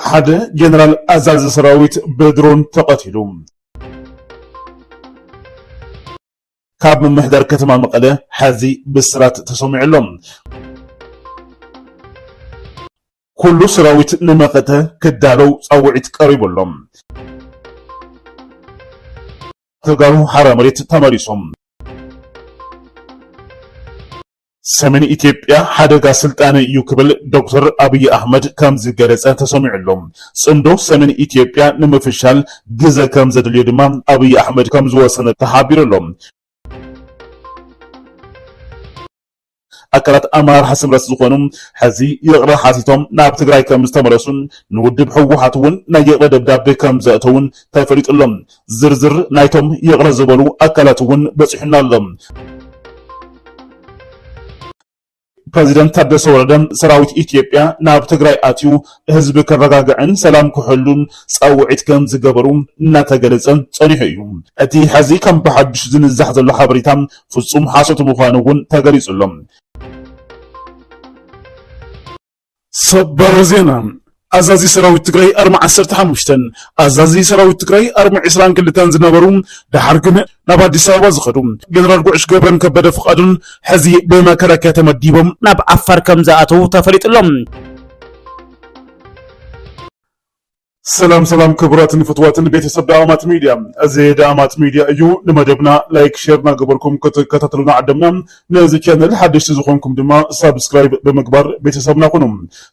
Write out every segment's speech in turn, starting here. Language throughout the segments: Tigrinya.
ሓደ ጀነራል ኣዛዚ ሰራዊት ብድሮን ተቐቲሉ። ካብ ምምሕዳር ከተማ መቐለ ሓዚ ብስራት ተሰሚዑ ኣሎ። ኩሉ ሰራዊት ንመኸተ ክዳለው ፃውዒት ቀሪቡ ኣሎ። ተጋሩ ሓራ መሬት ተመሊሶም። ሰሜን ኢትዮጵያ ሓደጋ ስልጣነ እዩ ክብል ዶክተር ኣብይ ኣህመድ ከም ዝገለጸ ተሰሚዑ ኣሎ። ጽምዶ ሰሜን ኢትዮጵያ ንምፍሻል ግዘ ከም ዘድልዮ ድማ ኣብይ ኣህመድ ከም ዝወሰነ ተሓቢሩ ኣሎ። ኣካላት ኣመራርሓ ስምረት ዝኾኑ ሐዚ ይቕረ ሓቲቶም ናብ ትግራይ ከምዝተመለሱን ንውድብ ህወሓት እውን ናይ ይቕረ ደብዳቤ ከምዘእተዉን ተፈሊጡ ኣሎ። ዝርዝር ናይቶም ይቕረ ዝበሉ ኣካላት እውን በፂሑና ኣሎ። ፕረዚደንት ታደሰ ወረደ ሰራዊት ኢትዮጵያ ናብ ትግራይ ኣትዩ ህዝቢ ከረጋግዕን ሰላም ክሕሉን ፃውዒት ከም ዝገበሩ እናተገለፀ ፀኒሑ እዩ። እቲ ሐዚ ከም ብሓዱሽ ዝንዛሕ ዘሎ ሓበሬታ ፍፁም ሓሶት ምዃኑ እውን ተገሊፁ ኣሎ። ሰበር ዜና ኣዛዚ ሰራዊት ትግራይ ኣርሚ ዓሰርተ ሓሙሽተን ኣዛዚ ሰራዊት ትግራይ ኣርሚ ዕስራን ክልተን ዝነበሩ ደሓር ግን ናብ ኣዲስ ኣበባ ዝኸዱ ጀነራል ጉዕሽ ገብረን ከበደ ፍቃዱን ሕዚ ብመከላከያ ተመዲቦም ናብ ዓፋር ከም ዝኣተዉ ተፈሊጡ ኣሎ። ሰላም ሰላም ክቡራትን ፍትዋትን ቤተሰብ ዳኣማት ሚድያ እዚ ዳኣማት ሚድያ እዩ ንመደብና ላይክ ሼር ናገበርኩም ክትከታተሉና ዓደምና ነዚ ቻነል ሓደሽቲ ዝኾንኩም ድማ ሳብስክራይብ ብምግባር ቤተሰብና ኩኑ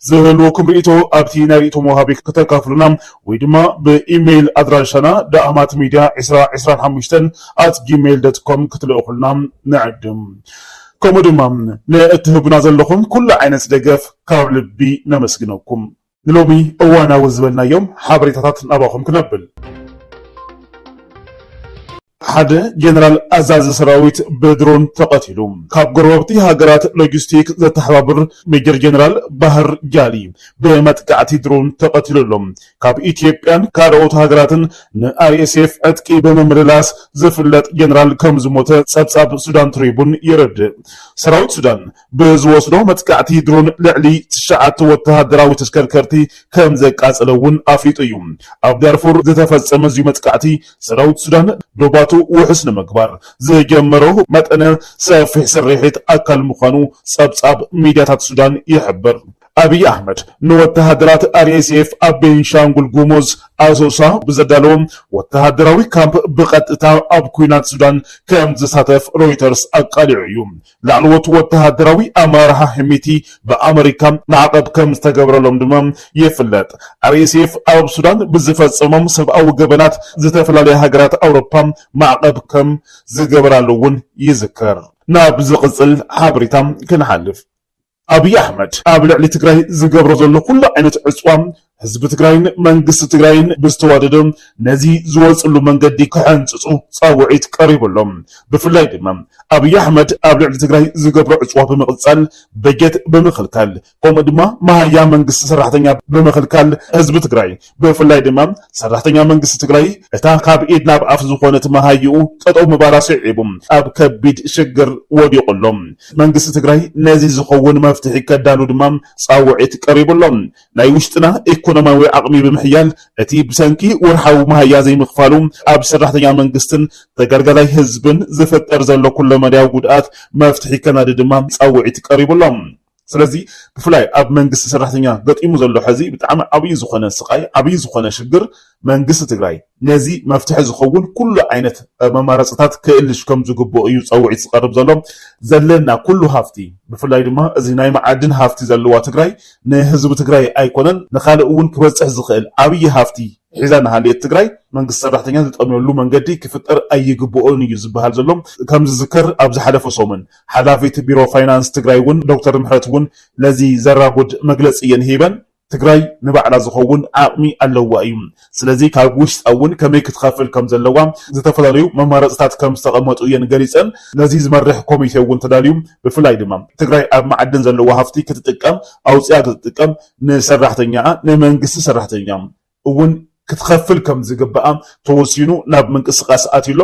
ዝህልወኩም ርእቶ ኣብቲ ናይ ርእቶ መውሃቢ ከተካፍሉና ወይ ድማ ብኢሜይል ኣድራሻና ዳኣማት ሚድያ 225 ኣት ጂሜይል ዶት ኮም ክትልእኹልና ንዕድም ከምኡ ድማ ንእትህቡና ዘለኹም ኩሉ ዓይነት ደገፍ ካብ ልቢ ነመስግነኩም ንሎሚ እዋናዊ ዝበልናዮም ሓበሬታታት ናባኹም ክነብል። ሓደ ጀነራል ኣዛዚ ሰራዊት ብድሮን ተቐቲሉ። ካብ ጎረባብቲ ሃገራት ሎጂስቲክ ዘተሓባብር ሜጀር ጀነራል ባህር ጃሊ ብመጥቃዕቲ ድሮን ተቐቲሉ ኣሎ። ካብ ኢትዮጵያን ካልኦት ሃገራትን ንኣርኤስኤፍ ዕጥቂ ብምምልላስ ዝፍለጥ ጀነራል ከምዝሞተ ጸብጻብ ሱዳን ትሪቡን የረድእ። ሰራዊት ሱዳን ብዝወስዶ መጥቃዕቲ ድሮን ልዕሊ ትሽዓተ ወተሃደራዊ ተሽከርከርቲ ከም ዘቃጸለ እውን ኣፍሊጡ እዩ። ኣብ ዳርፉር ዝተፈጸመ እዚ መጥቃዕቲ፣ ሰራዊት ሱዳን ዶባቱ ውሑስ ንምግባር ዝጀመሮ መጠነ ሰፊሕ ስርሒት ኣካል ምዃኑ ጸብጻብ ሚድያታት ሱዳን ይሕብር። ኣብይ ኣሕመድ ንወተሃደራት RSF ኣብ ቤንሻንጉል ጉሙዝ ኣሶሳ ብዘዳለዎ ወተሃደራዊ ካምፕ ብቐጥታ ኣብ ኲናት ሱዳን ከም ዝሳተፍ ሮይተርስ ኣቃሊዑ እዩ። ላዕለዎት ወተሃደራዊ ኣመራርሓ ሄሚቲ ብኣመሪካ ማዕቐብ ከም ዝተገብረሎም ድማ ይፍለጥ። RSF ኣብ ሱዳን ብዝፈጸሞም ሰብኣዊ ገበናት ዝተፈላለያ ሃገራት ኣውሮፓ ማዕቐብ ከም ዝገበራሉ'ውን ይዝከር። ናብ ዝቕጽል ሓበሬታ ክንሓልፍ። ኣብይ ኣሕመድ ኣብ ልዕሊ ትግራይ ዝገብሮ ዘሎ ኩሉ ዓይነት ዕፅዋ ህዝቢ ትግራይን መንግስቲ ትግራይን ብዝተዋደደ ነዚ ዝወፅሉ መንገዲ ክሕንፅፁ ፃውዒት ቀሪቡ ኣሎ። ብፍላይ ድማ ኣብይ ኣሕመድ ኣብ ልዕሊ ትግራይ ዝገብሮ ዕፅዋ ብምቕፃል በጀት ብምኽልካል ከምኡ ድማ መሃያ መንግስቲ ሰራሕተኛ ብምኽልካል ህዝቢ ትግራይ ብፍላይ ድማ ሰራሕተኛ መንግስቲ ትግራይ እታ ካብ ኢድ ናብ ኣፍ ዝኾነት መሃይኡ ጠጠው ምባላ ስዒቡ ኣብ ከቢድ ሽግር ወዲቑ ኣሎ። መንግስቲ ትግራይ ነዚ ዝኸውን መፍትሒ ከዳሉ ድማ ፃውዒት ቀሪቡ ኣሎ። ናይ ውሽጥና ኢኮኖሚያዊ ዓቕሚ ብምሕያል እቲ ብሰንኪ ወርሓዊ መሃያ ዘይምኽፋሉ ኣብ ሰራሕተኛ መንግስትን ተገልጋላይ ህዝብን ዝፍጠር ዘሎ ኩለመዳያዊ ጉድኣት መፍትሒ ከናዲ ድማ ፃውዒት ቀሪቡ ኣሎ። ስለዚ ብፍላይ ኣብ መንግስቲ ሰራሕተኛ ገጢሙ ዘሎ ሕዚ ብጣዕሚ ዓብይ ዝኾነ ስቃይ ዓብይ ዝኾነ ሽግር መንግስቲ ትግራይ ነዚ መፍትሒ ዝኸውን ኩሉ ዓይነት መማረፅታት ክእልሽ ከም ዝግብኦ እዩ ፀውዒት ዝቀርብ ዘሎ ዘለና ኩሉ ሃፍቲ ብፍላይ ድማ እዚ ናይ መዓድን ሃፍቲ ዘለዋ ትግራይ ንህዝቢ ትግራይ ኣይኮነን ንካልእ እውን ክበፅሕ ዝኽእል ዓብይ ሃፍቲ ሒዛ ንሃልየት ትግራይ መንግስቲ ሰራሕተኛ ዝጠምየሉ መንገዲ ክፍጠር ኣይግብኦን እዩ ዝበሃል ዘሎ ከም ዝዝከር ኣብ ዝሓለፈ ሰሙን ሓላፊት ቢሮ ፋይናንስ ትግራይ እውን ዶክተር ምሕረት እውን ነዚ ዘራጉድ መግለፂ እየን ሂበን። ትግራይ ንባዕላ ዝኸውን ዓቕሚ ኣለዋ እዩ። ስለዚ ካብ ውሽጣ እውን ከመይ ክትኸፍል ከም ዘለዋ ዝተፈላለዩ መማረፅታት ከም ዝተቐመጡ እየን ገሊፀን። ነዚ ዝመርሕ ኮሚቴ እውን ተዳልዩ። ብፍላይ ድማ ትግራይ ኣብ መዓድን ዘለዋ ሃፍቲ ክትጥቀም ኣውፂኣ ክትጥቀም ንሰራሕተኛኣ፣ ንመንግስቲ ሰራሕተኛ፣ እውን ክትኸፍል ከም ዝግባኣ ተወሲኑ ናብ ምንቅስቃስ ኣትዩ ኣሎ።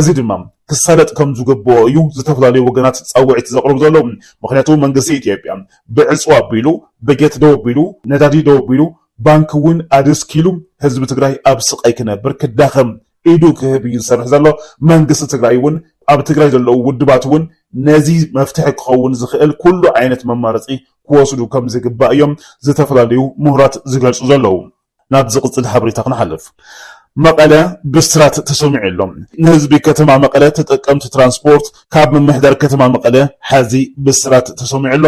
እዚ ድማ ክሳለጥ ከም ዝግበኦ እዩ ዝተፈላለዩ ወገናት ፃውዒት ዘቕርቡ ዘለዉ። ምኽንያቱ መንግስቲ ኢትዮጵያ ብዕፅዋ ኣቢሉ፣ በጀት ደው ኣቢሉ፣ ነዳዲ ደው ኣቢሉ፣ ባንኪ እውን ኣደስኪሉ ህዝቢ ትግራይ ኣብ ስቓይ ክነብር፣ ክዳኸም፣ ኢዱ ክህብ እዩ ዝሰርሕ ዘሎ። መንግስቲ ትግራይ እውን ኣብ ትግራይ ዘለዉ ውድባት እውን ነዚ መፍትሒ ክኸውን ዝኽእል ኩሉ ዓይነት መማረፂ ክወስዱ ከምዝግባእ እዮም ዝተፈላለዩ ምሁራት ዝገልፁ ዘለዉ። ናብ ዝቕፅል ሓበሬታ ክንሓልፍ። መቐለ ብስራት ተሰሚዑ ኣሎ። ንህዝቢ ከተማ መቐለ ተጠቀምቲ ትራንስፖርት ካብ ምምሕዳር ከተማ መቐለ ሐዚ ብስራት ተሰሚዑ ኣሎ።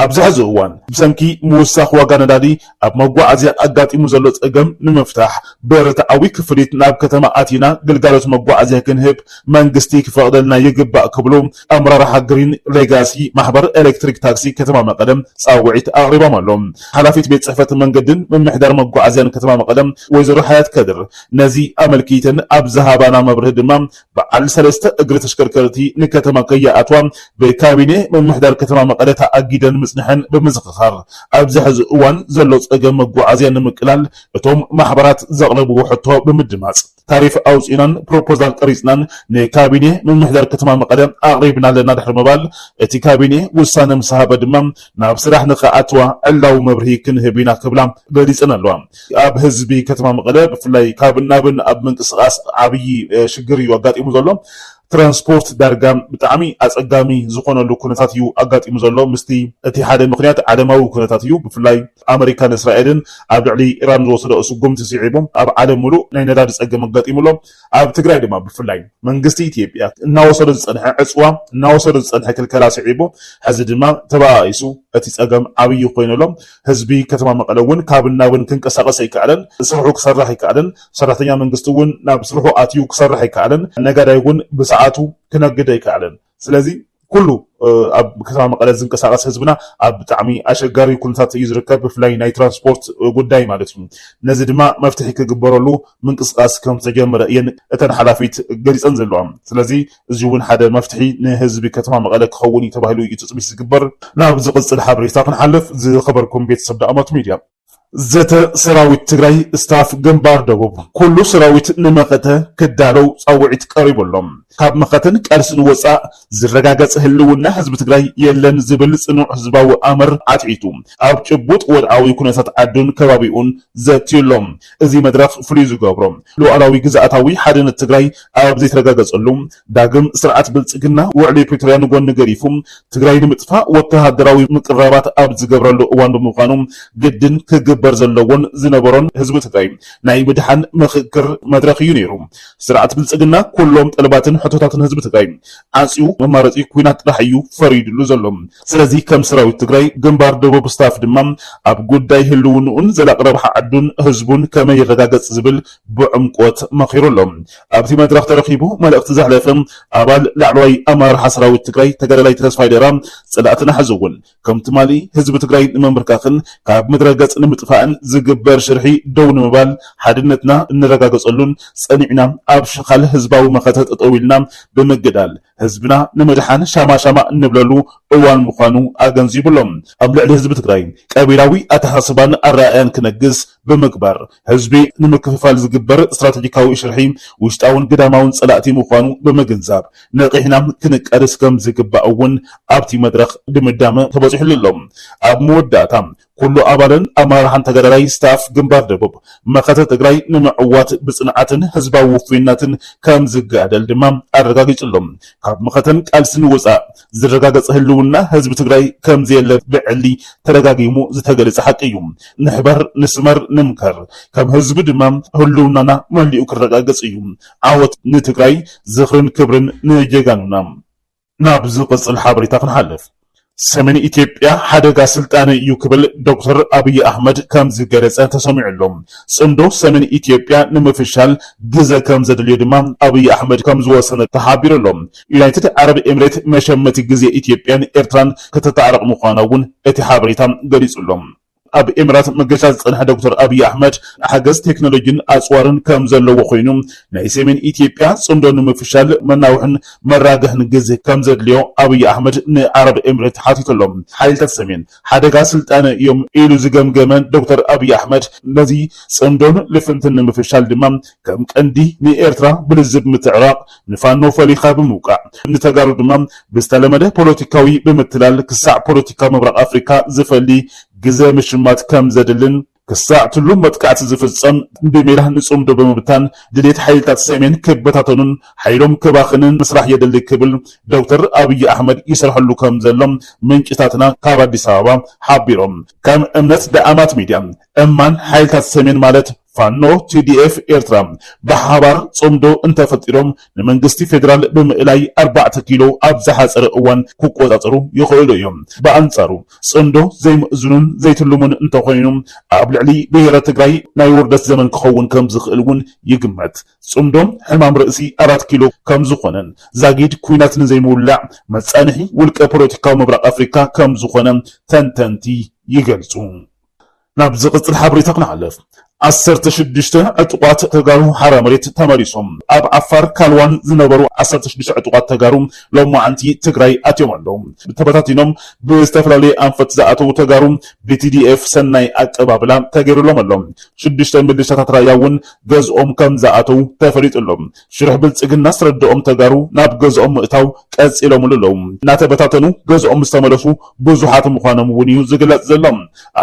ኣብዚ ሕዚ እዋን ብሰንኪ ምውሳኽ ዋጋ ነዳዲ ኣብ መጓዓዝያ ኣጋጢሙ ዘሎ ፀገም ንምፍታሕ ብርትዓዊ ክፍሊት ናብ ከተማ ኣቲና ግልጋሎት መጓዓዝያ ክንህብ መንግስቲ ክፈቕደልና ይግባእ ክብሉ ኣመራርሓ ግሪን ሌጋሲ ማሕበር ኤሌክትሪክ ታክሲ ከተማ መቐለ ፃውዒት ኣቕሪቦም ኣለው። ሓላፊት ቤት ፅሕፈት መንገድን ምምሕዳር መጓዓዝያን ከተማ መቐለ ወይዘሮ ሓያት ከድር ነዚ ኣመልኪተን ኣብ ዝሃባና መብርሂ ድማ በዓል ሰለስተ እግሪ ተሽከርከርቲ ንከተማ ከይኣትዋ ብካቢኔ ምምሕዳር ከተማ መቐለ ተኣጊደን ምፅንሐን ብምዝኽኻር ኣብዚ ሕዚ እዋን ዘሎ ፀገም መጓዓዝያ ንምቅላል እቶም ማሕበራት ዘቕረብዎ ሕቶ ብምድማፅ ታሪፍ ኣውፂእናን ፕሮፖዛል ቀሪፅናን ንካቢኔ ምምሕዳር ከተማ መቐለ ኣቕሪብና ኣለና ድሕሪ ምባል እቲ ካቢኔ ውሳነ ምስሃበ ድማ ናብ ስራሕ ንክኣትዋ ዕላዊ መብርሂ ክንህብ ኢና ክብላ ገሊፀን ኣለዋ። ኣብ ህዝቢ ከተማ መቐለ ብፍላይ ካብን ናብን ኣብ ምንቅስቓስ ዓብዪ ሽግር እዩ ኣጋጢሙ ዘሎ። ትራንስፖርት ዳርጋ ብጣዕሚ ኣፀጋሚ ዝኾነሉ ኩነታት እዩ ኣጋጢሙ ዘሎ። ምስቲ እቲ ሓደ ምኽንያት ዓለማዊ ኩነታት እዩ። ብፍላይ ኣመሪካን እስራኤልን ኣብ ልዕሊ ኢራን ዝወሰደኦ ስጉምቲ ስዒቡ ኣብ ዓለም ሙሉእ ናይ ነዳዲ ፀገም ኣጋጢሙ ኣሎ። ኣብ ትግራይ ድማ ብፍላይ መንግስቲ ኢትዮጵያ እናወሰዶ ዝፀንሐ ዕፅዋ እናወሰዶ ዝፀንሐ ክልከላ ስዒቡ ሕዚ ድማ ተበኣኢሱ እቲ ፀገም ዓብዪ ኮይኑ ኣሎ። ህዝቢ ከተማ መቐለ እውን ካብን ናብን ክንቀሳቐስ ኣይከኣለን፣ ስርሑ ክሰርሕ ኣይከኣለን፣ ሰራሕተኛ መንግስቲ እውን ናብ ስርሑ ኣትዩ ክሰርሕ ኣይከኣለን፣ ነጋዳይ እውን ብሰዓቱ ክነግድ ኣይከኣለን። ስለዚ ኩሉ ኣብ ከተማ መቐለ ዝንቀሳቐስ ህዝብና ኣብ ብጣዕሚ ኣሸጋሪ ኩነታት እዩ ዝርከብ፣ ብፍላይ ናይ ትራንስፖርት ጉዳይ ማለት እዩ። ነዚ ድማ መፍትሒ ክግበረሉ ምንቅስቓስ ከምዝተጀመረ እየን እተን ሓላፊት ገሊፀን ዘለዋ። ስለዚ እዚ እውን ሓደ መፍትሒ ንህዝቢ ከተማ መቐለ ክኸውን እዩ ተባሂሉ እዩ ትፅቢት ዝግበር። ናብ ዝቕፅል ሓበሬታ ክንሓልፍ ዝኸበርኩም ቤተሰብ ዳእማት ሚድያ። ዘተ ሰራዊት ትግራይ ስታፍ ግንባር ደቡብ ኩሉ ሰራዊት ንመኸተ ክዳለው ፃውዒት ቀሪቡ ኣሎ። ካብ መኸተን ቃልስን ወፃእ ዝረጋገፅ ህልውና ህዝቢ ትግራይ የለን ዝብል ፅኑዕ ህዝባዊ ኣምር ኣትዒቱ ኣብ ጭቡጥ ወድዓዊ ኩነታት ዓዱን ከባቢኡን ዘትዩ ኣሎ። እዚ መድረኽ ፍሉይ ዝገብሮ፣ ሉኣላዊ ግዝኣታዊ ሓድነት ትግራይ ኣብ ዘይተረጋገፀሉ፣ ዳግም ስርዓት ብልፅግና ውዕሊ ፕሪቶርያ ንጎኒ ገዲፉ ትግራይ ንምጥፋእ ወተሃደራዊ ምቅርራባት ኣብ ዝገብረሉ እዋን ብምዃኑ ግድን ክግበር ዘለዎን ዝነበሮን ህዝቢ ትግራይ ናይ ምድሓን ምኽክር መድረኽ እዩ ነይሩ። ስርዓት ብልፅግና ኩሎም ጠለባትን ሕቶታትን ህዝቢ ትግራይ ዓፅዩ መማረፂ ኲናት ጥራሕ እዩ ፈሪድሉ ዘሎ። ስለዚ ከም ሰራዊት ትግራይ ግንባር ደቡብ ስታፍ ድማ ኣብ ጉዳይ ህልውንኡን ዘላቂ ረብሓ ዓዱን ህዝቡን ከመይ ይረጋገፅ ዝብል ብዕምቆት መኺሩ ኣሎ። ኣብቲ መድረኽ ተረኺቡ መልእኽቲ ዘሕለፈ ኣባል ላዕለዋይ ኣመራርሓ ሰራዊት ትግራይ ተጋዳላይ ተስፋይ ደራ ፀላእትና ሕዚ እውን ከም ትማሊ ህዝቢ ትግራይ ንምምብርካኽን ካብ ምድረ ገፅ ንምጥፋእን ዝግበር ሽርሒ ደው ንምባል ሓድነትና እነረጋገፀሉን ፀኒዕና ኣብ ሽኻል ህዝባዊ መኸተ ጠጠው ኢልና ብምግዳል ህዝብና ንምድሓን ሻማ ሻማ እንብለሉ እዋን ምዃኑ ኣገንዚቡ ኣሎ። ኣብ ልዕሊ ህዝቢ ትግራይ ቀቢላዊ ኣተሓሳስባን ኣረኣእያን ክነግስ ብምግባር ህዝቢ ንምክፍፋል ዝግበር ስትራቴጂካዊ ሽርሒ ውሽጣውን ግዳማውን ፀላእቲ ምዃኑ ብምግንዛብ ነቒሕና ክንቃለስ ከምዝግባእ እውን ኣብቲ መድረኽ ድምዳመ ተበፂሑሉ ኣሎ። ኣብ መወዳእታ ኩሉ ኣባልን ኣመራርሓን ተጋዳላይ ስታፍ ግንባር ደቡብ መኸተ ትግራይ ንምዕዋት ብፅንዓትን ህዝባዊ ውፉይነትን ከምዝጋደል ድማ ኣረጋጊፁ'ሎ። ካብ መኸተን ቃልስን ወፃእ ዝረጋገፀ ህልውና ህዝቢ ትግራይ ከምዘየለ ብዕሊ ተደጋጊሙ ዝተገለፀ ሓቂ እዩ። ንሕበር፣ ንስመር፣ ንምከር ከም ህዝቢ ድማ ህልውናና መሊኡ ክረጋገፅ እዩ። ዓወት ንትግራይ! ዝኽርን ክብርን ንጀጋኑና! ናብ ዝቕፅል ሓበሬታ ክንሓልፍ። ሰሜን ኢትዮጵያ ሓደጋ ስልጣነ እዩ ክብል ዶክተር ኣብይ ኣሕመድ ከም ዝገለፀ ተሰሚዑ ኣሎ። ፅምዶ ሰሜን ኢትዮጵያ ንምፍሻል ግዘ ከም ዘድልዮ ድማ ኣብይ ኣሕመድ ከም ዝወሰነ ተሓቢሩ ኣሎ። ዩናይትድ ዓረብ ኤምሬት መሸመቲ ግዜ ኢትዮጵያን ኤርትራን ክተታዕርቕ ምዃና እውን እቲ ሓበሬታ ገሊፁ ኣሎ። ኣብ ኤምራት መገሻ ዝጸንሐ ዶክተር ኣብይ ኣሕመድ ሓገዝ ቴክኖሎጂን ኣጽዋርን ከም ዘለዎ ኮይኑ፣ ናይ ሰሜን ኢትዮጵያ ጽምዶ ንምፍሻል መናውሕን መራግሕን ግዜ ከም ዘድልዮ ኣብይ ኣሕመድ ንዓረብ ኤምሬት ሓቲቱ ኣሎ። ሓይልታት ሰሜን ሓደጋ ስልጣነ እዮም ኢሉ ዝገምገመ ዶክተር ኣብይ ኣሕመድ ነዚ ጽምዶን ልፍንትን ንምፍሻል ድማ ከም ቀንዲ ንኤርትራ ብልዝብ ምትዕራቕ ንፋኖ ፈሊኻ ብምውቃዕ ንተጋሩ ድማ ብዝተለመደ ፖለቲካዊ ብምትላል ክሳዕ ፖለቲካ ምብራቕ ኣፍሪካ ዝፈሊ ግዘ ምሽማት ከምዘድልን ክሳዕ ትሉም መጥቃዕቲ ዝፍፀም ብሜላ ንፅምዶ ብምብታን ድሌት ሓይልታት ሰሜን ክበታተኑን ሓይሎም ክባኽንን ምስራሕ የድሊ ክብል ዶክተር ኣብይ ኣሕመድ ይሰርሐሉ ከምዘሎ ምንጭታትና ካብ ኣዲስ ኣበባ ሓቢሮም። ከም እምነት ደኣማት ሚድያ እማን ሓይልታት ሰሜን ማለት ፋኖ tdf ኤርትራ ብሓባር ጽምዶ እንተፈጢሮም ንመንግስቲ ፌደራል ብምእላይ ኣርባዕተ ኪሎ ኣብ ዝሓጸረ እዋን ክቆጻጸሩ ይኽእሉ እዮም። ብኣንጻሩ ጽምዶ ዘይምእዙንን ዘይትልሙን እንተኾይኑ ኣብ ልዕሊ ብሄረ ትግራይ ናይ ውርደት ዘመን ክኸውን ከምዝኽእል እውን ይግመት። ጽምዶ ሕማም ርእሲ ኣራት ኪሎ ከምዝኾነን ዛጊድ ኲናት ንዘይምውላዕ መጻንሒ ውልቀ ፖለቲካዊ ምብራቕ ኣፍሪካ ከምዝኾነ ተንተንቲ ይገልጹ። ናብ ዝቅጽል ሓበሬታ ክንሓልፍ ዓሰርተ ሽዱሽተ ዕጡቃት ተጋሩ ሓራ መሬት ተመሊሶም። ኣብ ዓፋር ካልዋን ዝነበሩ ዓሰርተ ሽዱሽተ ዕጡቃት ተጋሩ ሎማዕንቲ ትግራይ ኣትዮም ኣለው። ተበታቲኖም ብዝተፈላለየ ኣንፈት ዝኣተው ተጋሩ ብቲዲኤፍ ሰናይ ኣቀባብላ ተገይርሎም ኣሎ። ሽዱሽተ ምልሻታት ራያ እውን ገዝኦም ከምዝኣተው ተፈሊጡ ኣሎ። ሽርሒ ብልፅግና ዝተረደኦም ተጋሩ ናብ ገዝኦም ምእታው ቀፂሎምሉ ኣለው። እናተበታተኑ ገዝኦም ዝተመለሱ ብዙሓት ምዃኖም እውን እዩ ዝግለፅ ዘሎ።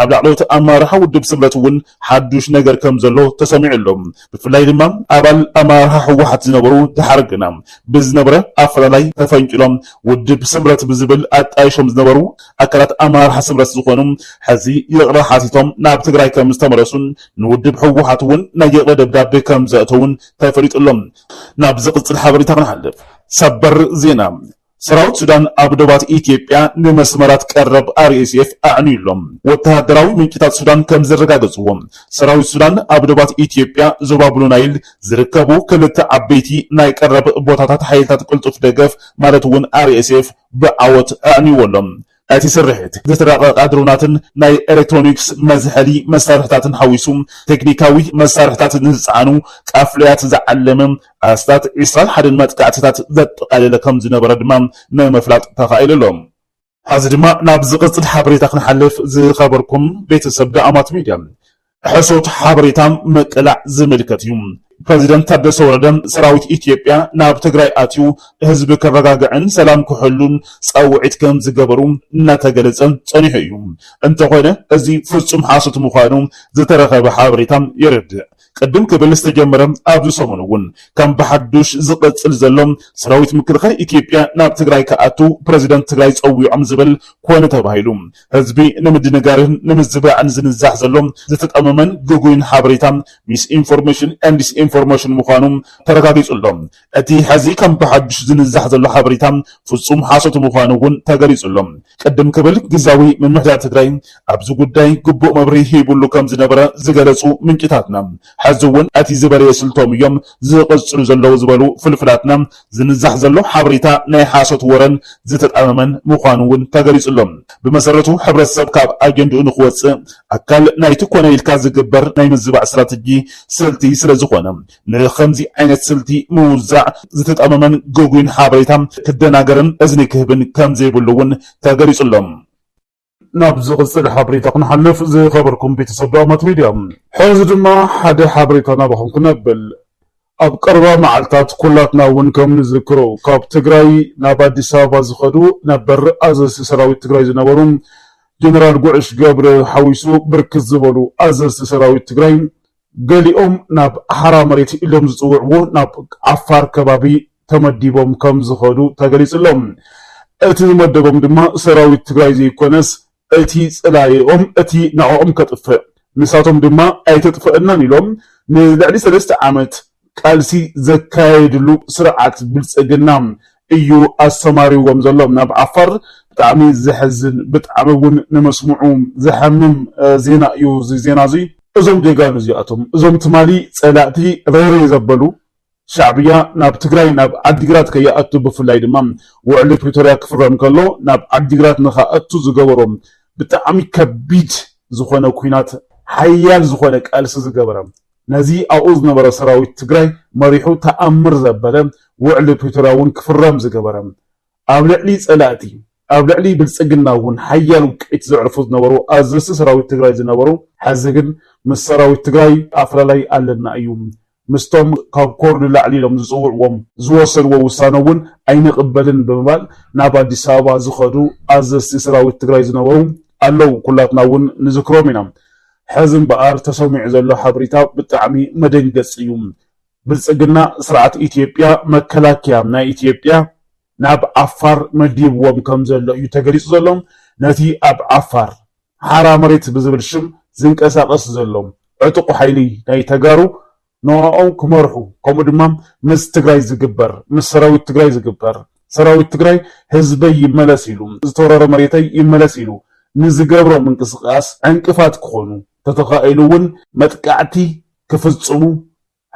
ኣብ ላዕለዎት ኣመራርሓ ውድብ ስምረት እውን ሓዱሽ ነገር ከምዘሎ ተሰሚዑ ኣሎ። ብፍላይ ድማ ኣባል ኣመራርሓ ህወሓት ዝነበሩ ደሓር ግና ብዝነበረ ኣፈላላይ ተፈንቂሎም ውድብ ስምረት ብዝብል ኣጣይሾም ዝነበሩ ኣካላት ኣመራርሓ ስምረት ዝኾኑ ሕዚ ይቕረ ሓቲቶም ናብ ትግራይ ከምዝተመለሱን ንውድብ ህወሓት እውን ናይ ይቕረ ደብዳቤ ከምዘእተውን ተፈሊጡ ኣሎ። ናብ ዝቕጽል ሓበሬታ ክንሓልፍ፣ ሰበር ዜና፣ ሰራዊት ሱዳን ኣብ ዶባት ኢትዮጵያ ንመስመራት ቀረብ ኣርኤስኤፍ ኣዕንዩ ኣሎ። ወተሃደራዊ ምንጭታት ሱዳን ከም ዘረጋገጽዎ፣ ሰራዊት ሱዳን ኣብ ዶባት ኢትዮጵያ ዞባ ብሉ ናይል ዝርከቡ ክልተ ዓበይቲ ናይ ቀረብ ቦታታት ሓይልታት ቅልጡፍ ደገፍ ማለት'ውን ኣርኤስኤፍ ብዓወት ኣዕንዩዎ ኣሎ። እቲ ስርሒት ዝስረቐ ቃድሮናትን ናይ ኤሌክትሮኒክስ መዝሐሊ መሳርሕታትን ሓዊሱ ቴክኒካዊ መሳርሕታት ንዝጸዓኑ ቃፍለያት ዝዓለመ ኣስታት ዕስራን ሓደን መጥቃዕቲታት ዘጠቓለለ ከምዝነበረ ድማ ንምፍላጥ ተኻኢሉ ኣሎ። ሐዚ ድማ ናብ ዝቕጽል ሓበሬታ ክንሓልፍ፣ ዝኸበርኩም ቤተሰብ ዳኣማት ሚድያ፣ ሕሶት ሓበሬታ ምቅላዕ ዝምልከት እዩ። ፕረዚደንት ታደሰ ወረደ ሰራዊት ኢትዮጵያ ናብ ትግራይ ኣትዩ ህዝቢ ከረጋግዕን ሰላም ክሕሉን ፃውዒት ከም ዝገበሩ እናተገለፀ ፀኒሑ እዩ። እንተኾነ እዚ ፍፁም ሓሶት ምዃኑ ዝተረኸበ ሓበሬታ የረድእ። ቅድም ክብል ዝተጀመረ ኣብዚ ሰሙን እውን ከም ብሓዱሽ ዝቕፅል ዘሎ ሰራዊት ምክልኻል ኢትዮጵያ ናብ ትግራይ ክኣቱ ፕረዚደንት ትግራይ ፀዊዖም ዝብል ኮነ ተባሂሉ ህዝቢ ንምድንጋርን ንምዝባዕን ዝንዛሕ ዘሎ ዝተጠመመን ግጉይን ሓበሬታ፣ ሚስኢንፎርሜሽን ኤንድ ዲስኢንፎርሜሽን፣ ምዃኑ ተረጋጊጹ ኣሎ። እቲ ሕዚ ከም ብሓዱሽ ዝንዛሕ ዘሎ ሓበሬታ ፍጹም ሓሶት ምዃኑ እውን ተገሊጹ ኣሎ። ቅድም ክብል ግዝያዊ ምምሕዳር ትግራይ ኣብዚ ጉዳይ ግቡእ መብርሂ ሂቡሉ ከም ዝነበረ ዝገለጹ ምንጭታትና፣ ሕዚ እውን እቲ ዝበለየ ስልቶም እዮም ዝቕጽሉ ዘለዉ ዝበሉ ፍልፍላትና ዝንዛሕ ዘሎ ሓበሬታ ናይ ሓሶት ወረን ዝተጣመመን ምዃኑ እውን ተገሊፁ ኣሎ። ብመሰረቱ ሕብረተሰብ ካብ ኣጀንድኡ ንክወፅእ ኣካል ናይቲ ኮነ ኢልካ ዝግበር ናይ ምዝባዕ ስትራተጂ፣ ስልቲ፣ ስለዝኾነ ንኸምዚ ዓይነት ስልቲ ምውዛዕ ዝተጣመመን ግጉይን ሓበሬታ ክደናገርን እዝኒ ክህብን ከምዘይብሉ እውን ተገሊፁ ኣሎ። ናብ ዝቕጽል ሓበሬታ ክንሓልፍ ዝኸበርኩም ቤተሰብ ዳውማት ሚድያ ሕዚ ድማ ሓደ ሓበሬታ ናባኹም ክነብል ኣብ ቀረባ መዓልታት ኩላትና እውን ከም ንዝክሮ ካብ ትግራይ ናብ ኣዲስ ኣበባ ዝኸዱ ነበር ኣዘዝቲ ሰራዊት ትግራይ ዝነበሩ ጀነራል ጉዕሽ ገብረ ሓዊሱ ብርክት ዝበሉ ኣዘዝቲ ሰራዊት ትግራይ ገሊኦም ናብ ሓራ መሬት ኢሎም ዝፅውዕዎ ናብ ዓፋር ከባቢ ተመዲቦም ከምዝኸዱ ተገሊፁ'ሎ። እቲ ዝመደቦም ድማ ሰራዊት ትግራይ ዘይኮነስ እቲ ፀላኢኦም እቲ ንዕኦም ከጥፍእ ንሳቶም ድማ ኣይተጥፈኣናን ኢሎም ንልዕሊ ሰለስተ ዓመት ቃልሲ ዘካየድሉ ስርዓት ብልፅግና እዩ ኣሰማሪዎም ዘሎ ናብ ዓፋር ብጣዕሚ ዘሕዝን ብጣዕሚ እውን ንመስምዑ ዘሐምም ዜና እዩ እዚ ዜና እዚ። እዞም ጀጋኑ እዚኣቶም እዞም ትማሊ ፀላእቲ ረይረይ ዘበሉ ሻዕብያ ናብ ትግራይ ናብ ዓዲግራት ከይኣቱ ብፍላይ ድማ ውዕሊ ፕሪቶርያ ክፍረም ከሎ ናብ ዓዲግራት ንክኣቱ ዝገበሮ ብጣዕሚ ከቢድ ዝኾነ ኲናት ሓያል ዝኾነ ቃልሲ ዝገበረ ነዚ ኣብኡ ዝነበረ ሰራዊት ትግራይ መሪሑ ተኣምር ዘበለ ውዕሊ ፕሪቶርያ እውን ክፍረም ዝገበረ፣ ኣብ ልዕሊ ፀላእቲ፣ ኣብ ልዕሊ ብልፅግና እውን ሓያል ውቅዒት ዘዕርፉ ዝነበሩ ኣዘዝቲ ሰራዊት ትግራይ ዝነበሩ፣ ሐዚ ግን ምስ ሰራዊት ትግራይ ኣፈላላይ ኣለና እዩ፣ ምስቶም ካብ ኮር ንላዕሊ ኢሎም ዝፅውዕዎም፣ ዝወሰድዎ ውሳነ እውን ኣይንቕበልን ብምባል ናብ ኣዲስ ኣበባ ዝኸዱ ኣዘዝቲ ሰራዊት ትግራይ ዝነበሩ ኣለው፣ ኩላትና እውን ንዝክሮም ኢና። ሐዚ እምበኣር ተሰሚዑ ዘሎ ሓበሬታ ብጣዕሚ መደንገፂ እዩ። ብልፅግና ስርዓት ኢትዮጵያ መከላከያ ናይ ኢትዮጵያ ናብ ዓፋር መዲብዎም ከምዘሎ እዩ ተገሊፁ ዘሎ። ነቲ ኣብ ዓፋር ሓራ መሬት ብዝብል ሽም ዝንቀሳቐስ ዘሎ ዕጡቕ ሓይሊ ናይ ተጋሩ ኖራኦም ክመርሑ ከምኡ ድማ ምስ ትግራይ ዝግበር ምስ ሰራዊት ትግራይ ዝግበር ሰራዊት ትግራይ ህዝበይ ይመለስ ኢሉ ዝተወረረ መሬተይ ይመለስ ኢሉ ንዝገብሮ ምንቅስቃስ ዕንቅፋት ክኾኑ ተተኻኢሉ እውን መጥቃዕቲ ክፍፅሙ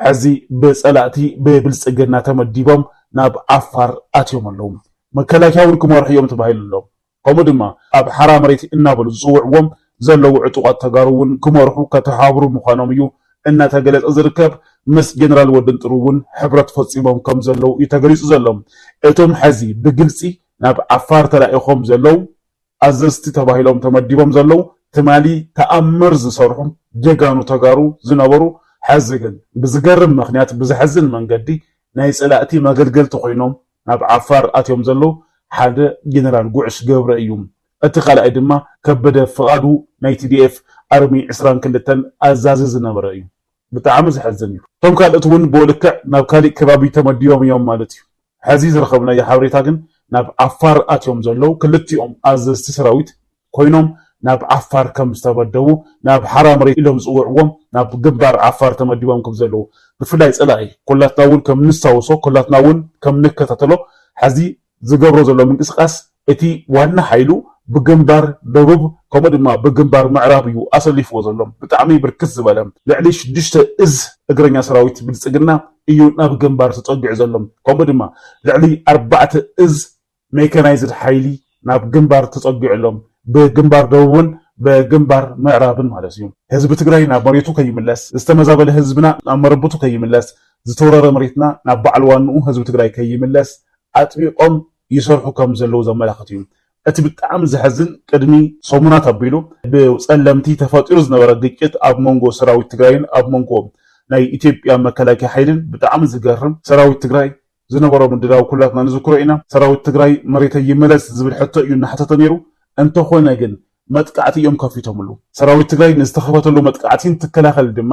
ሐዚ ብፀላእቲ ብብልፅግና ተመዲቦም ናብ ዓፋር ኣትዮም ኣለው መከላከያ እውን ክመርሑ እዮም ተባሂሉ ኣሎ። ከምኡ ድማ ኣብ ሓራ መሬት እናበሉ ዝፅውዕዎም ዘለዉ ዕጡቓት ተጋሩ እውን ክመርሑ ከተሓብሩ ምዃኖም እዩ እናተገለፀ ዝርከብ። ምስ ጀነራል ወድንጥሩ እውን ሕብረት ፈፂሞም ከም ዘለዉ እዩ ተገሊፁ ዘሎ። እቶም ሐዚ ብግልፂ ናብ ዓፋር ተላኢኾም ዘለዉ ኣዘዝቲ ተባሂሎም ተመዲቦም ዘለዉ ትማሊ ተኣምር ዝሰርሑ ጀጋኑ ተጋሩ ዝነበሩ ሐዚ ግን ብዝገርም ምኽንያት ብዘሕዝን መንገዲ ናይ ፀላእቲ መገልገልቲ ኮይኖም ናብ ዓፋር ኣትዮም ዘለዉ ሓደ ጀነራል ጉዕሽ ገብረ እዩ። እቲ ካልኣይ ድማ ከበደ ፍቓዱ ናይ TDF ኣርሚ ዕስራን ክልተን ኣዛዚ ዝነበረ እዩ። ብጣዕሚ ዘሕዝን እዩ። እቶም ካልኦት እውን ብኡ ልክዕ ናብ ካሊእ ከባቢ ተመዲቦም እዮም ማለት እዩ። ሐዚ ዝረኸብናዮ ሓበሬታ ግን ናብ ዓፋር ኣትዮም ዘለዉ ክልቲኦም ኣዘዝቲ ሰራዊት ኮይኖም ናብ ዓፋር ከም ዝተመደቡ ናብ ሓራ መሬት ኢሎም ዝጽውዕዎም ናብ ግንባር ዓፋር ተመዲቦም ከም ዘለዉ ብፍላይ ጸላኢ ኩላትና ውን ከም ንስታውሶ ኩላትና ውን ከም ንከታተሎ ሐዚ ዝገብሮ ዘሎ ምንቅስቃስ እቲ ዋና ሓይሉ ብግንባር ደቡብ ከምኡ ድማ ብግንባር ምዕራብ እዩ ኣሰሊፍዎ ዘሎ ብጣዕሚ ብርክት ዝበለ ልዕሊ ሽዱሽተ እዝ እግረኛ ሰራዊት ብልጽግና እዩ ናብ ግንባር ተጸጊዑ ዘሎ ከምኡ ድማ ልዕሊ ኣርባዕተ እዝ ሜካናይዝድ ሓይሊ ናብ ግንባር ተፀጊዑ ኣሎ። ብግንባር ደቡብን ብግንባር ምዕራብን ማለት እዩ። ህዝቢ ትግራይ ናብ መሬቱ ከይምለስ፣ ዝተመዛበለ ህዝብና ናብ መረብቱ ከይምለስ፣ ዝተወረረ መሬትና ናብ በዓል ዋንኡ ህዝቢ ትግራይ ከይምለስ ኣጥቢቖም ይሰርሑ ከም ዘለዉ ዘመላኽት እዩ። እቲ ብጣዕሚ ዘሕዝን ቅድሚ ሰሙናት ኣቢሉ ብፀለምቲ ተፈጢሩ ዝነበረ ግጭት ኣብ መንጎ ሰራዊት ትግራይን ኣብ መንጎ ናይ ኢትዮጵያ መከላከያ ሓይልን ብጣዕሚ ዝገርም ሰራዊት ትግራይ ዝነበሮ ምድላው ኩላትና ንዝክሮ ኢና። ሰራዊት ትግራይ መሬተይ ይመለስ ዝብል ሕቶ እዩ እናሓተተ ነይሩ። እንተኾነ ግን መጥቃዕቲ እዮም ከፊቶምሉ። ሰራዊት ትግራይ ንዝተኸፈተሉ መጥቃዕቲ እንትከላኸል ድማ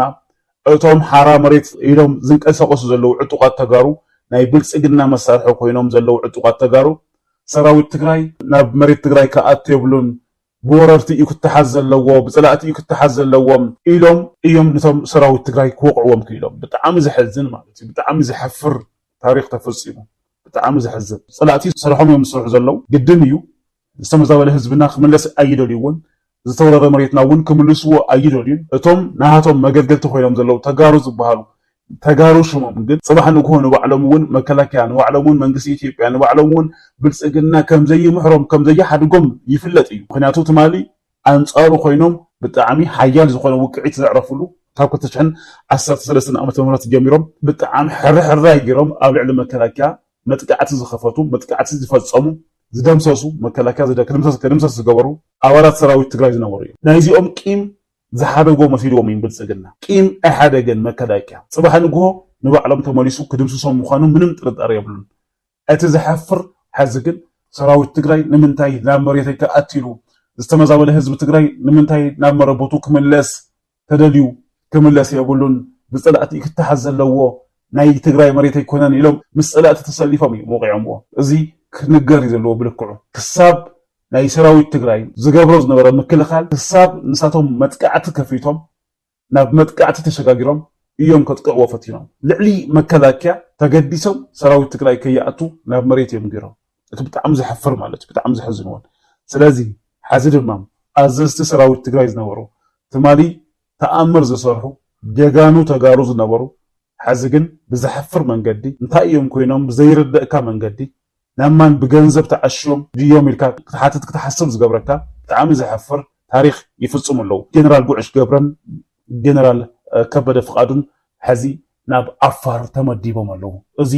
እቶም ሓራ መሬት ኢሎም ዝንቀሳቐሱ ዘለዉ ዕጡቓት ተጋሩ ናይ ብልፅግና መሳርሒ ኮይኖም ዘለዉ ዕጡቓት ተጋሩ ሰራዊት ትግራይ ናብ መሬት ትግራይ ክኣቱ የብሉን ብወረርቲ እዩ ክተሓዝ ዘለዎ ብፀላእቲ እዩ ክተሓዝ ዘለዎ ኢሎም እዮም ንቶም ሰራዊት ትግራይ ክወቕዕዎም ክኢሎም ብጣዕሚ ዘሐዝን ማለት እዩ ብጣዕሚ ዘሕፍር ታሪኽ ተፈፂሙ ብጣዕሚ ዘሕዝን ፀላእቲ ስርሖም እዮም ዝሰርሑ ዘለው ግድን እዩ ዝተመዛበለ ህዝብና ክምለስ ኣይደልይዎን ዝተወረረ መሬትና እውን ክምልስዎ ኣይደልዩን እቶም ናሃቶም መገልገልቲ ኮይኖም ዘለው ተጋሩ ዝበሃሉ ተጋሩ ሽሞም ግን ጽባሕ ንግሆ ንባዕሎም ውን መከላከያ ንባዕሎም ውን መንግስቲ ኢትዮጵያ ንባዕሎም ውን ብልጽግና ከምዘይምሕሮም ከምዘይሓድጎም ይፍለጥ እዩ ምኽንያቱ ትማሊ ኣንጻሩ ኮይኖም ብጣዕሚ ሓያል ዝኾነ ውቅዒት ዘዕረፍሉ ካብ ክልተ ሽሕን ዓሰርተ ሰለስተን ዓመተ ምህረት ጀሚሮም ብጣዕሚ ሕርሕራይ ጌሮም ኣብ ልዕሊ መከላከያ መጥቃዕቲ ዝኸፈቱ መጥቃዕቲ ዝፈጸሙ ዝደምሰሱ መከላከያ ክድምሰስ ዝገበሩ ኣባላት ሰራዊት ትግራይ ዝነበሩ እዮም ናይዚኦም ቂም ዝሓደጎ መሲልዎም እዩም ብልፅግና ቂም ኣይሓደገን መከላከያ ፅባሕ ንግሆ ንባዕሎም ተመሊሱ ክድምስሶም ምኳኑ ምንም ጥርጣረ የብሉን እቲ ዘሕፍር ሐዚ ግን ሰራዊት ትግራይ ንምንታይ ናብ መሬተይ ክኣቲ ኢሉ ዝተመዛበለ ህዝቢ ትግራይ ንምንታይ ናብ መረበቱ ክምለስ ተደልዩ ክምለስ የብሉን ብፀላእቲ እዩ ክተሓዝ ዘለዎ ናይ ትግራይ መሬት ኣይኮነን ኢሎም ምስ ፀላእቲ ተሰሊፎም እዩም ወቂዖምዎ እዚ ክንገር እዩ ዘለዎ ብልክዑ ክሳብ ናይ ሰራዊት ትግራይ ዝገብሮ ዝነበረ ምክልኻል ክሳብ ንሳቶም መጥቃዕቲ ከፊቶም ናብ መጥቃዕቲ ተሸጋጊሮም እዮም ከጥቅዕዎ ፈቲኖም ልዕሊ መከላኪያ ተገዲሶም ሰራዊት ትግራይ ከይኣቱ ናብ መሬት እዮም ገይሮም እቲ ብጣዕሚ ዘሕፍር ማለት እዩ ብጣዕሚ ዘሕዝን እውን ስለዚ ሐዚ ድማ ኣዘዝቲ ሰራዊት ትግራይ ዝነበሩ ትማሊ ተኣምር ዝሰርሑ ጀጋኑ ተጋሩ ዝነበሩ ሐዚ ግን ብዘሕፍር መንገዲ እንታይ እዮም ኮይኖም ብዘይርደእካ መንገዲ ናብ ማን ብገንዘብ ተዓሽዮም ድዮም ኢልካ ክትሓትት ክትሓስብ ዝገብረካ ብጣዕሚ ዘሕፍር ታሪኽ ይፍፅሙ ኣለው ጀነራል ጉዕሽ ገብረን ጀነራል ከበደ ፍቃዱን ሐዚ ናብ ዓፋር ተመዲቦም ኣለው እዚ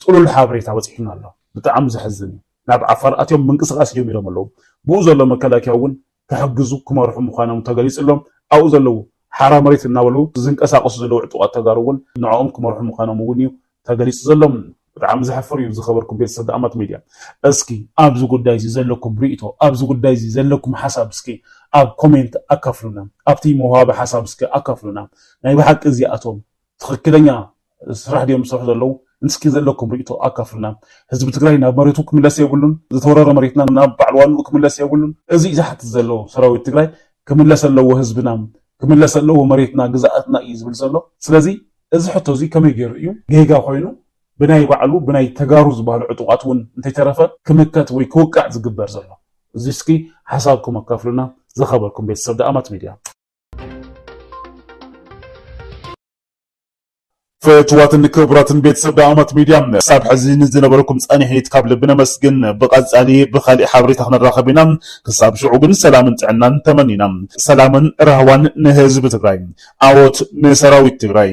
ጥሉል ሓበሬታ በፂሑና ኣሎ ብጣዕሚ ዘሕዝን እዩ ናብ ዓፋር ኣትዮም ምንቅስቃስ ጀሚሮም ኣለው ብኡ ዘሎ መከላከያ እውን ክሕግዙ ክመርሑ ምዃኖም ተገሊፅሎም ኣብኡ ዘለዉ ሓራ መሬት እናበሉ ዝንቀሳቐሱ ዘለዉ ዕጡቓት ተጋሩ እውን ንዕኦም ክመርሑ ምዃኖም እውን እዩ ተገሊፁ ዘሎ። ብጣዕሚ ዘሕፍር እዩ ዝኸበርኩም ቤተሰብ ደኣማት ሚድያ እስኪ ኣብዚ ጉዳይ እዚ ዘለኩም ሪኢቶ ኣብዚ ጉዳይ እዚ ዘለኩም ሓሳብ እስኪ ኣብ ኮሜንት ኣካፍሉና ኣብቲ መውሃቢ ሓሳብ እስኪ ኣካፍሉና ናይ ብሓቂ እዚኣቶም ትኽክለኛ ስራሕ ድዮም ዝሰርሑ ዘለው? እስኪ ዘለኩም ሪኢቶ ኣካፍሉና። ህዝቢ ትግራይ ናብ መሬቱ ክምለስ የብሉን፣ ዝተወረረ መሬትና ናብ ባዓል ዋንኡ ክምለስ የብሉን። እዙይ ዝሓትት ዘሎ ሰራዊት ትግራይ ክምለስ ኣለዎ ህዝብና፣ ክምለስ ኣለዎ መሬትና ግዝኣትና እዩ ዝብል ዘሎ። ስለዚ እዚ ሕቶ እዙይ ከመይ ገይሩ እዩ ጌጋ ኮይኑ ብናይ ባዕሉ ብናይ ተጋሩ ዝባሃሉ ዕጡቓት እውን እንተይተረፈ ክምከት ወይ ክውቃዕ ዝግበር ዘሎ? እዙይ እስኪ ሓሳብኩም ኣካፍሉና። ዝኸበርኩም ቤተሰብ ደኣማት ሚድያ። ፍትዋትን ክቡራትን ቤተሰብ ዳኣማት ሚድያ ክሳብ ሕዚ ንዝነበረኩም ፃኒሒት ካብ ልቢ ነመስግን። ብቀፃሊ ብካሊእ ሓበሬታ ክንራኸብ ኢና። ክሳብ ሽዑ ግን ሰላምን ጥዕናን ተመኒና። ሰላምን ራህዋን ንህዝቢ ትግራይ። ዓወት ንሰራዊት ትግራይ።